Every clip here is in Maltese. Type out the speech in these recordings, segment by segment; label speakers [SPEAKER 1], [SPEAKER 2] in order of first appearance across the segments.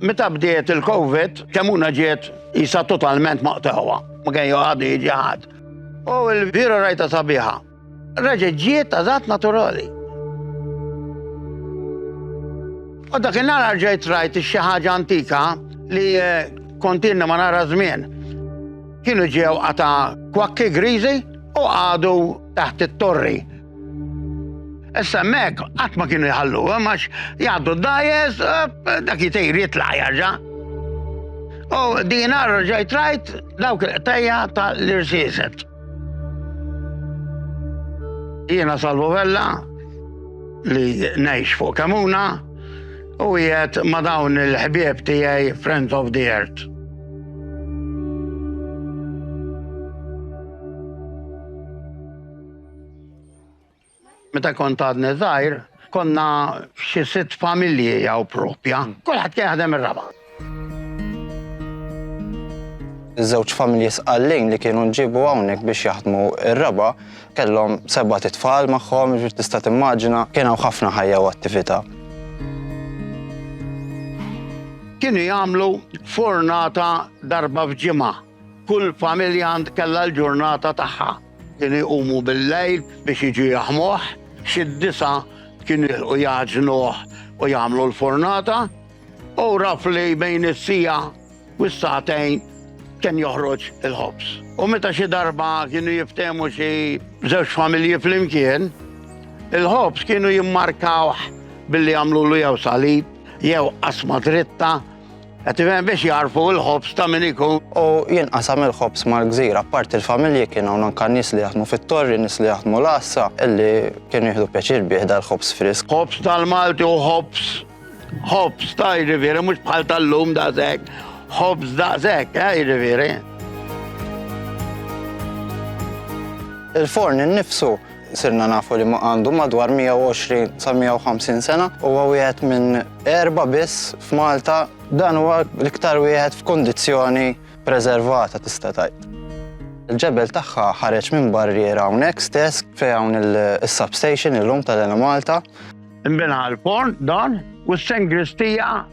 [SPEAKER 1] Meta bdiet il-Covid, kemmuna ġiet jisa totalment maqtawa. Ma kien joqgħad jiġi ħadd. U l-vira rajta sabiħa. Reġa' ġiet għażat naturali. U dak in-nar ġejt rajt xi ħaġa antika li eh, kontinna ma nara żmien. Kienu ġew għata kwakki griżi u għadu taħt it-torri. Issa mek, qatt ma kienu jħallu, eh, max jgħaddu d-dajes, eh, dak jitejr jitla jarġa. U dina rġajt rajt dawk il-qtajja ta' l-irsiset. Jiena Salvo Vella li ngħix fuq Kamuna u jiet ma dawn il-ħbieb tiegħi Friends of the Earth. Meta kont għadni żgħir, konna xi sitt familji hawn propja. Kulħadd kien jaħdem ir-raba'.
[SPEAKER 2] Iż-żewġ familji Sqallin li kienu nġiebu hawnhekk biex jaħdmu r-raba' kellhom sebat itfal magħhom, jiġifieri tista' timmaġina kien hawn ħafna ħajja u attività.
[SPEAKER 1] Kienu jagħmlu furnata darba f'ġimgħa. Kull familja kellha l-ġurnata tagħha. Kienu jqumu bil-lejl biex jiġu jaħmuh, xi disa' kienu jilħqu jagħġnuh u jagħmlu l-furnata, u raf li bejn is-siegħa u s-sagħtejn kien joħroġ il-ħobż. U meta xi darba kienu jiftehmu xi żewġ familji flimkien, il-ħobż kienu jimmarkawh billi jagħmlulu jew salib, jew qasma dritta, Qed tifhem biex jagħrfu l-ħobż ta' min ikun. U jinqasam
[SPEAKER 2] il-ħobż mal-gżira, apparti l-familji kien hawn anke nies li jaħdmu fit-Torri, nies li jaħdmu l-Għassa, illi kienu jieħdu pjaċir bih dal-ħobż frisk. Ħobż tal-Malti hu
[SPEAKER 1] ħobż, ħobż ta' jiġifieri mhux bħal tal-lum daqshekk, ħobż daqshekk, eh, jiġifieri.
[SPEAKER 2] Il-forn innifsu Sirna nafu li għandu madwar 120 sa 150 sena, huwa wieħed minn erba' biss f'Malta. Dan huwa l-iktar wieħed f'kundizzjoni preservata tista' tgħid. Il-ġebel tagħha ħareġ minn barriera hawnhekk stess fejn hawn is-substation illum tal-Enemalta. Inbena
[SPEAKER 1] l-forn dan u s-sengristija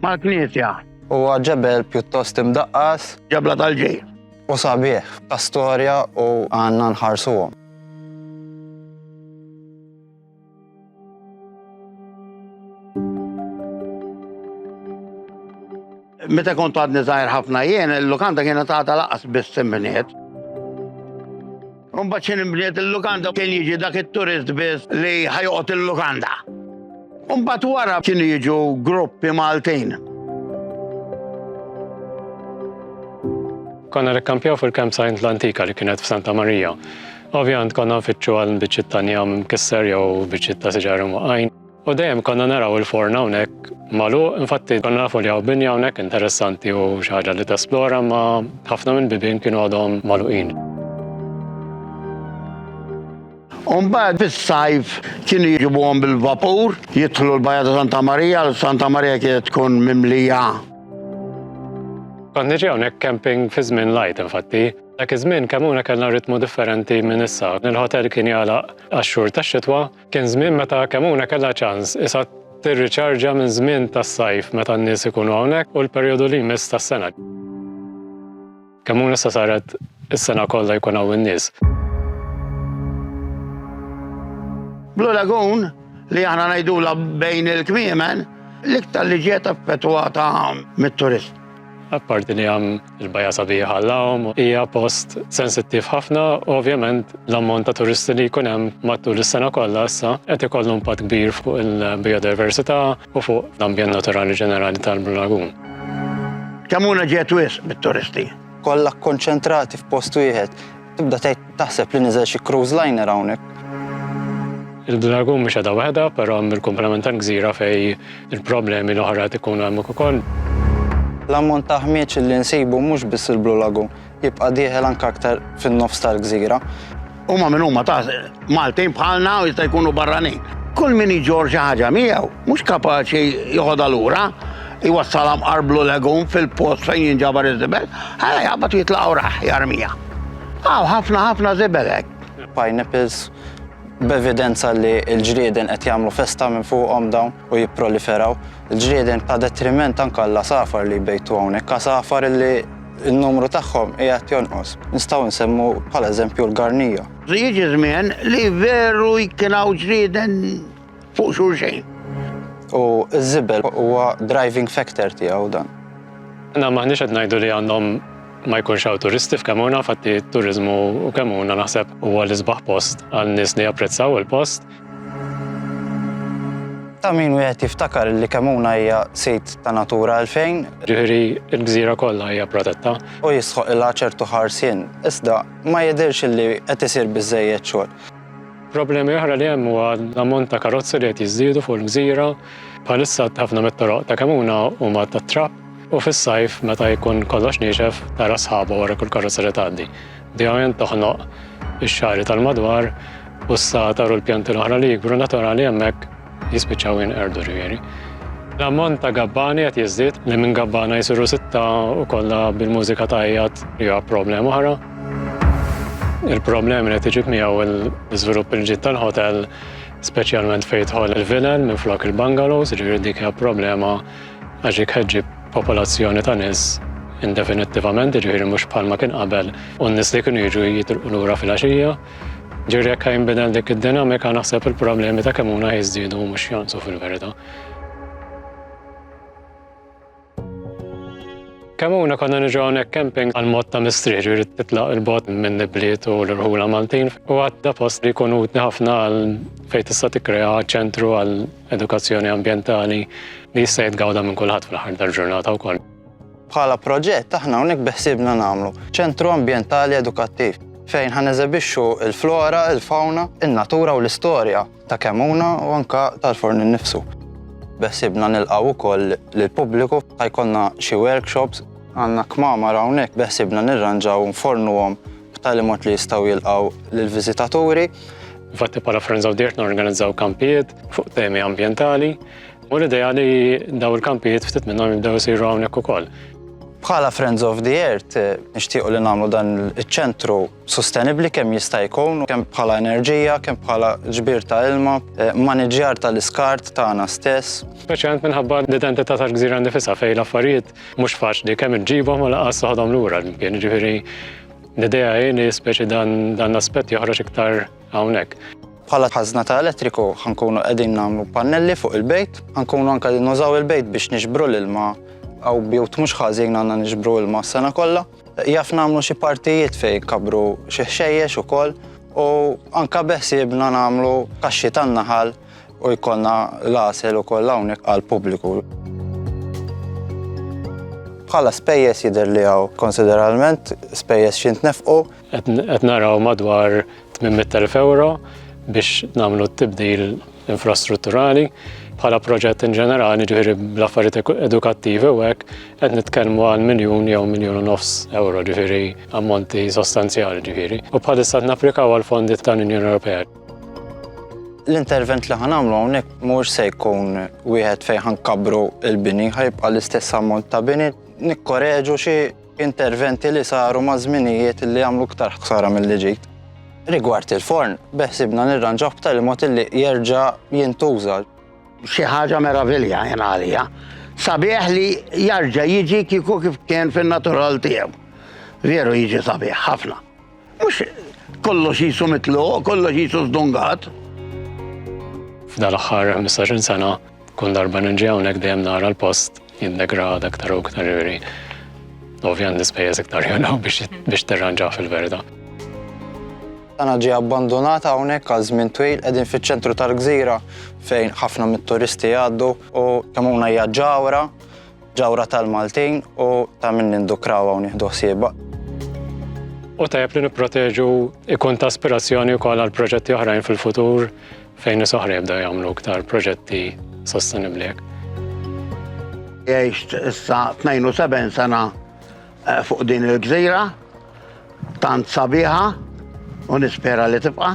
[SPEAKER 1] mal-knisja. Huwa
[SPEAKER 2] ġebel pjuttost imdaqqas. Ġebla tal-ġid.
[SPEAKER 1] U sabiħ,
[SPEAKER 2] ta' storja u għandna nħarsuhom.
[SPEAKER 1] Meta kont għadni zaħir ħafna jien, il-lukanda kienet għata laqas biss simbniet. Unbat xin imbniet il-lukanda kien jiġi dak il-turist biss li ħajqot il-lukanda. U mbagħad wara kienu jiġu gruppi Maltin.
[SPEAKER 3] Konna rekkampjaw fil-campsite l-antika li kienet f'Santa Marija. Ovvjament konna nfittxu għal biċċiet ta' njam mkisser jew biċċiet ta' siġar imwaqajn. U dejjem konna naraw il-forna hawnhekk malu, infatti konna nafu li hawn binja hawnhekk interessanti u xi ħaġa li tesplora ma ħafna mill-bibien kienu għadhom maluqin.
[SPEAKER 1] U mbagħad fis-sajf kienu jiġibuhom bil-vapur, jidħlu l-Bajja ta' Santa Marija, l Santa Marija kienet tkun mimlija.
[SPEAKER 3] Kont niġi hawnhekk camping fi żmien lajt infatti. Dak iż-żmien kemm huna kellna ritmu differenti minn issa. Il-ħotel kien jagħlaq għax-xhur tax-xitwa, kien żmien meta kemm huna kellha ċans isa tirriċarġja minn żmien tas-sajf meta n-nies ikunu hawnhekk u l-perjodu li jmiss tas-sena. Kemm hu nista' saret is-sena kollha jkun hawn in-nies.
[SPEAKER 1] Blue Lagoon, li aħna ngħidulha bejn il-kmiemen, l-iktar li ġiet affettwata mit-turiżmu. Apparti
[SPEAKER 3] li hemm il-bajja sabiħa għall-għawm, hija post sensittiv ħafna u ovvjament l-ammont ta' turisti li jkun hemm matul is-sena kollha issa qed ikollu impatt kbir fuq il-biodiversità, u fuq l-ambjent naturali ġenerali tal-Blue Lagoon. Ċamuna
[SPEAKER 1] ġiet wisq bit-turisti. Kollha
[SPEAKER 2] kkonċentrati f'post wieħed. Tibda tgħid taħseb li niżel xi cruise liner hawnhekk.
[SPEAKER 3] Il-Blue Lagoon mhix qiegħda waħedha, però hemm il-kumplament tal-gżira fejn il-problemi l-oħra qed ikunu hemmhekk ukoll. L-ammont
[SPEAKER 2] ta' ħmieġ li nsibu mhux biss il-Blue Lagoon. jibqa' dieħel anke aktar fin-nofs tal-gżira. Huma min
[SPEAKER 1] huma ta' Maltin bħalna u jista' jkunu barranin. Kull min iġorr xi ħaġa miegħu mhux kapaċi joħodha lura, jwassalha mqar blu legum fil-post fejn jinġabar iż-żibel, ħa jaqbad jitlaq u rah jarmiha. Hawn ħafna ħafna żibel
[SPEAKER 2] hekk.
[SPEAKER 1] Pineapples,
[SPEAKER 2] b'evidenza li l-ġrieden qed jagħmlu festa minn fuqhom dawn. u jipproliferaw il-ġrieden ta' detriment anke għall-għasafar li jbejtu hawnhekk, għasafar li n-numru tagħhom qiegħed jonqos. Nistgħu nsemmu bħala eżempju l-garnija. Jiġi żmien
[SPEAKER 1] li veru kien hawn ġrieden fuq xulxejn. U
[SPEAKER 2] ż-żibel huwa driving factor tiegħu dan. Le, m'aħniex
[SPEAKER 3] qed ngħidu li għandhom ma jkunx hawn turisti f'Kemona, infatti t-turiżmu u Kemona naħseb huwa l-isbaħ post għal nies li japprezzaw il-post.
[SPEAKER 2] Ta' min wieħed jiftakar li Kemuna hija sit ta' Natura 2000. Ġifieri
[SPEAKER 3] l-gżira kollha hija protetta. U jistħoq ilha
[SPEAKER 2] ċertu ħarsien, iżda ma jidhirx li qed isir biżżejjed xogħol. Problemi
[SPEAKER 3] oħra li hemm huwa l-ammont ta' karozzi li qed jiżdiedu fuq il-gżira. Bħalissa ħafna mit-toroq ta' Kemuna huma tat-trapp u fis-sajf meta jkun kollox niexef tara sħaba wara kull karozza li tgħaddi. Di ovvjament toħnoq ix-xagħri tal-madwar u s-satar u l-pjanti l-oħra li jikbru naturali hemmhekk jispiċċaw jinqerdu ġifieri. L-ammont ta' gabbani qed jiżdied li minn gabbana jsiru sitta u kollha bil-mużika tajjat li huwa problema oħra. Il-problemi li qed iġib miegħu l-iżvilupp il-ġid tal-ħotel speċjalment fejn jidħol il-vilel minflok il-bungalows, ġifieri dik hija problema għax dik qed ġġib popolazzjoni ta' nies indefinittivament, jiġifieri mhux bħalma kien qabel u n-nies li kienu jiġu jitilqu lura filgħaxija. Ġifieri jekk ħajinbidel dik id-dinamika naħseb il-problemi ta' Kemmuna ħajżdiedu mhux jonqsu fil-verità. Kemmuna konna niġu hawnhekk camping għal mod ta' mistrieħ, ġifieri titlaq il-bogħod minn ibliet u l-irħula Maltin u għadda post li jkun utli ħafna għal fejn tista' tikkrea ċentru għal edukazzjoni ambjentali li jista' jitgawda minn kulħadd fl-aħħar tal-ġurnata wkoll. Bħala proġett
[SPEAKER 2] aħna hawnhekk beħsiebna nagħmlu ċentru ambjentali edukattiv fejn ħa neżebixxu l-flora, il-fawna, in-natura u l-istorja ta' Kemmuna u anke tal-Forn innifsu. Beħsiebna nilqgħu wkoll lill-pubbliku ħa jkollna xi workshops. Għandna kmamar hawnhekk beħsiebna nirranġaw u nfornuhom b'tali mod li jistgħu jilqgħu lill-viżitaturi. Infatti
[SPEAKER 3] bħala Friends of the Earth norganizzaw kampijiet fuq temi ambjentali u l-idea li daw il-kampijiet ftit minnhom jibdew isiru hawnhekk ukoll. Bħala Friends
[SPEAKER 2] of the Earth eh, nixtiequ li nagħmlu dan iċ-ċentru sostenibbli kemm jista' jkun, kemm bħala enerġija, kemm bħala ġbir ta' ilma, eh, maniġjar tal-iskart tagħna stess. Speċjalment minħabba
[SPEAKER 3] l-identità tal-gżira nifisha fejn l-affarijiet Mhux faċli kemm inġibhom u lanqas toħodhom lura l-imkien, jiġifieri l-idea hi li speċi dan l-aspett joħroġ iktar hawnhekk. Bħala ħażna
[SPEAKER 2] ta' elettriku ħankunu qegħdin nagħmlu pannelli fuq il-bejt, ħankunu anke qegħdin nużaw il-bejt biex niġbru l-ilma hawn bjut mhux ħażin għandna niġbru ilma s-sena kollha. Jaf nagħmlu xi partijiet fejn inkabru xi ħxejjex ukoll u anke beħsiebna nagħmlu kaxxi tan-naħal U jkollna l-għasel ukoll hawnhekk għall-pubbliku. Bħala spejjeż jidher li hawn konsideralment spejjeż xi ntnefqu. Qed naraw
[SPEAKER 3] madwar 800,000 ewro biex nagħmlu t-tibdil infrastrutturali. Bħala proġett in ġenerali, ġifieri bl-affarijiet edukattivi u hekk, qed nitkellmu għal miljun jew miljun u nofs ewro, ġifieri ammonti sostanzjali ġifieri. U bħalissa qed napplikaw għall-fondi tal-Unjoni Ewropea. L-intervent
[SPEAKER 2] li ħanamlu hawnhekk mhux se jkun wieħed fejn ħankabru l-bini, ħajbqa' l-istess ammont ta' bini, nikkoreġu xi interventi li saru ma' żminijiet li għamlu ktar ħsara mill ġid. Rigward il-forn, beħsibna nirranġaw b'tali mod li jerġa' jintuża. Xi
[SPEAKER 1] ħaġa meravilja jien għalija. Sabiħ li jarġa' jiġi kieku kif kien fin-natural tiegħu. Veru jiġi sabiħ ħafna. Mhux kollox qisu mitluq, kollox qisu żdungat. F'dan
[SPEAKER 3] l-aħħar 15-il sena, kull darba ninġi hawnhekk dejjem nara l-post jindegrada aktar u aktar iri. Ovvjan l-ispejjeż iktar jolaw biex terranġa fil-verda.
[SPEAKER 2] Tana ġie abbandunata hawnhekk għal żmien twil qegħdin fiċ-ċentru tal-gżira fejn ħafna mit-turisti jgħaddu u kemm hawn hija ġawra Ġawra tal-Maltin u ta' min nindukraw u nieħdu ħsieba.
[SPEAKER 3] U tajjeb li nipproteġu ikun ta' aspirazzjoni wkoll għal proġetti oħrajn fil-futur fejn nies oħra jibdew jagħmlu iktar proġetti sostenibbli. Għext
[SPEAKER 1] issa 72 sena Eh, fuq din il-gżira, tant sabiħa, u nispera li tibqa'.